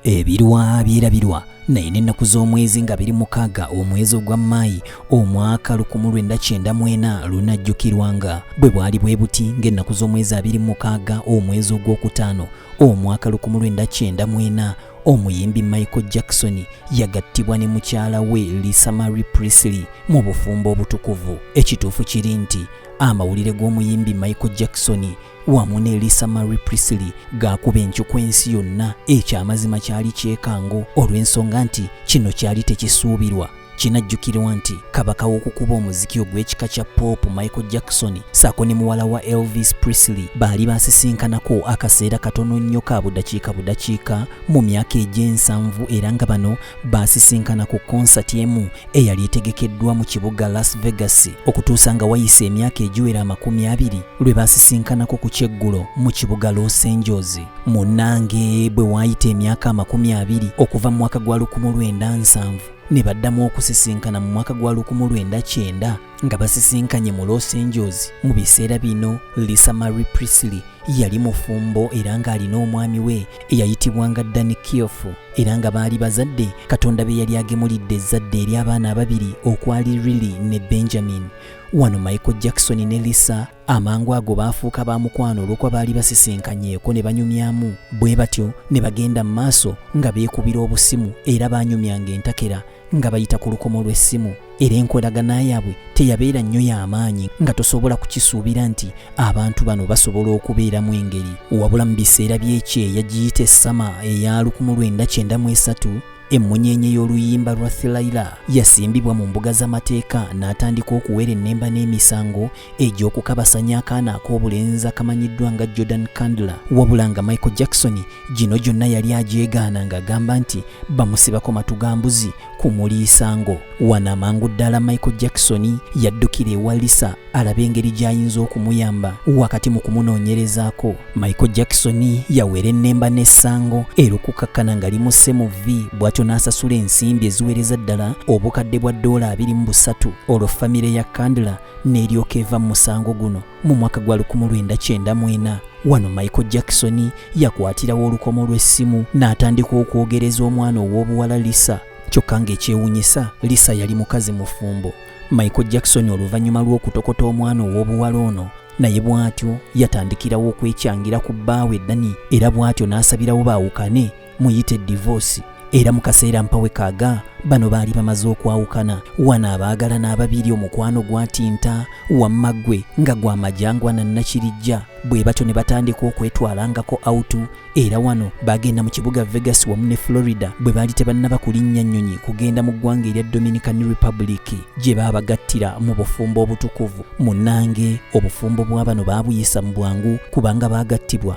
ebirwa byerabirwa naye n'ennaku z'omwezi nga biri mukaaga omwezi ogwa maayi omwaka 1994 lunajjukirwanga bwe bwali bwe buti ng'ennaku z'omwezi abiri mukaaga omwezi ogw'okutaano omwaka 1994 omuyimbi michael jackson yagattibwa ne mukyala we lisa mary prisley mu bufumbo obutukuvu ekituufu kiri nti amawulire g'omuyimbi michael jackson wamu ne lisa mary prisili gaakuba encuku ensi yonna ekyo amazima kyali kyekango olw'ensonga nti kino kyali tekisuubirwa kinajjukirwa nti kabaka w'okukuba omuziki ogw'ekika kya pop michael jackson saako ne muwala wa elvis prisley baali basisinkanako akaseera katono nnyo ka budakiika budakiika mu myaka egy'ensanvu era nga bano baasisinkana ku konsati emu eyali etegekeddwa mu kibuga Las Vegas okutuusa nga wayise emyaka egiwera amakumi abiri lwe baasisinkanako ku kyeggulo mu kibuga Los Angeles. Munnange bwe waayita emyaka amakumi abiri okuva mu mwaka gwa lukumu lwenda nsanvu ne baddamu okusisinkana mu mwaka gwa lukumu lwenda kyenda nga basisinkanye mu Los Angeles mu biseera bino Lisa Marie Priestley yali mufumbo era ng'alina omwami we eyayitibwanga Danny Keough era nga baali bazadde Katonda be yali agemulidde ezzadde eri abaana ababiri okwali Riley ne Benjamin. Wano Michael Jackson ne Lisa amangu ago baafuuka ba mukwano olw'okuba baali basisinkanyeeko ne banyumyamu bwe batyo ne bagenda mu maaso nga beekubira obusimu era baanyumyanga entakera nga bayita ku lukomo lw'essimu era enkolagana yaabwe teyabeera nnyo y'amaanyi nga tosobola kukisuubira nti abantu bano basobola okubeeramu engeri wabula mu biseera by'ekyeya giyita essama eya lukumu lwenda kyenda mu esatu emmunyeenye y'oluyimba lwa thilaila yasimbibwa mu mbuga z'amateeka n'atandika okuwerennemba n'emisango egy'okukabasanya akaana ak'obulenzi akamanyiddwa nga jordan candler wabula nga michael jackson gino gyonna yali agyegaana ng'agamba nti bamusibako matu ga mbuzi ku muliisango wano amangu ddala michael jackson yaddukira ewa lisa alaba engeri gy'ayinza okumuyamba wakati mu kumunoonyerezaako michael jackson yawera ennemba n'essango era okukakkana nga limusse mu vi bw'atyo n'asasula ensimbi eziweereza ddala obukadde bwa ddoola abiri mu busatu olwo famire ya candler n'eryoka eva mu musango guno mu mwaka gwa 1994 wano michael jackson yakwatirawo olukomo lw'essimu n'atandika okwogereza omwana ow'obuwala lisa kyokka ng'ekyewunyisa lisa yali mukazi mufumbo michael jackson oluvannyuma lw'okutokota omwana ow'obuwala ono naye bw'atyo yatandikirawo okwekyangira ku bbaawe dani era bw'atyo n'asabirawo baawukane muyite divoosi era mu kaseera mpawe kaaga bano baali bamaze okwawukana wano abaagalana ababiri omukwano gwatinta wamma gwe nga gwa majangwa na nakirijja bwe batyo ne batandika okwetwalangako autu era wano baagenda mu kibuga vegas wamu ne florida bwe baali tebannaba kulinnya nnyonyi kugenda mu ggwanga erya dominican republic gye baabagattira mu bufumbo obutukuvu munnange obufumbo bwa bano baabuyisa mu bwangu kubanga baagattibwa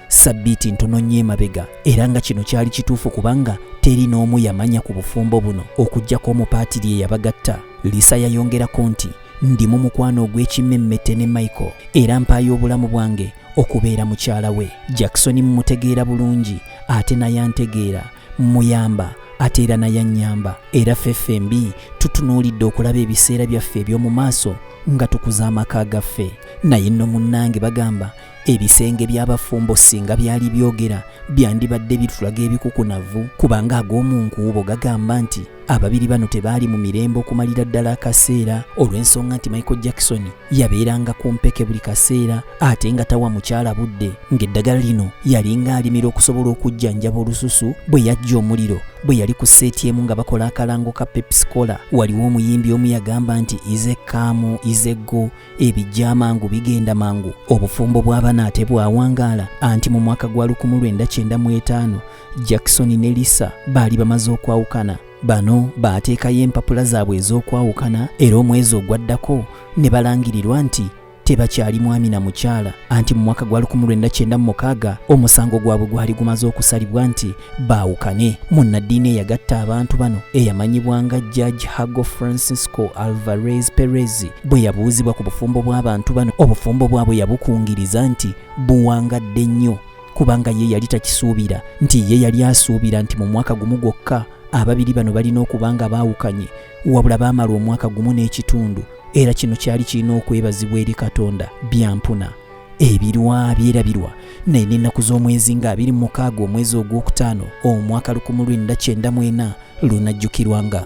sabbiiti ntono nnyo emabega era nga kino kyali kituufu kubanga teri n'omu yamanya ku bufumbo buno okuggyako omupaatiri eyabagatta lisa yayongerako nti ndi mu mukwano ogw'ekimmemmette ne michael era mpaayo obulamu bwange okubeera mukyala we jackson mumutegeera bulungi ate naye antegeera mmuyamba ate era naye annyamba era ffeffe mbi tutunuulidde okulaba ebiseera byaffe eby'omu maaso nga tukuza amaka gaffe naye nno munnange bagamba ebisenge by'abafumbo singa byali byogera byandibadde bitulaga ebikukunavu kubanga ag'omu nkuubo gagamba nti ababiri bano tebaali mu mirembe okumalira ddala akaseera olw'ensonga nti michael jackson yabeeranga ku mpeke buli kaseera ate nga tawa mukyala budde ng'eddagala lino yalinga alimira okusobola okujjanjaba olususu bwe yajja omuliro bwe yali ku seeti emu nga bakola akalango ka pepsicola waliwo omuyimbi omu yagamba nti izekaamu izeggo ebijja amangu bigenda mangu obufumbo bw'abana ate bwawangaala anti mu mwaka gwa 1995 jackson ne lisa baali bamaze okwawukana bano baateekayo empapula zaabwe ez'okwawukana era omwezi ogwaddako ne balangirirwa nti tebakyali mwami na mukyala anti mu mwaka gwa 1996 omusango gwabwe gwali gumaze okusalibwa nti baawukane munnaddiini eyagatta abantu bano eyamanyibwa nga judge hago francisco alvarez perez bwe yabuuzibwa ku bufumbo bw'abantu bano obufumbo bwabwe yabukungiriza nti buwangadde nnyo kubanga ye yali takisuubira nti ye yali asuubira nti mu mwaka gumu gwokka ababiri bano balina okuba nga baawukanye wabula baamala omwaka gumu n'ekitundu era kino kyali kirina okwebazibwa eri katonda byampuna ebirwa byerabirwa naye n'ennaku z'omwezi nga abiri mukaaga omwezi ogwokutaano omwaka lukumu lwenda kyenda mwena lunajjukirwanga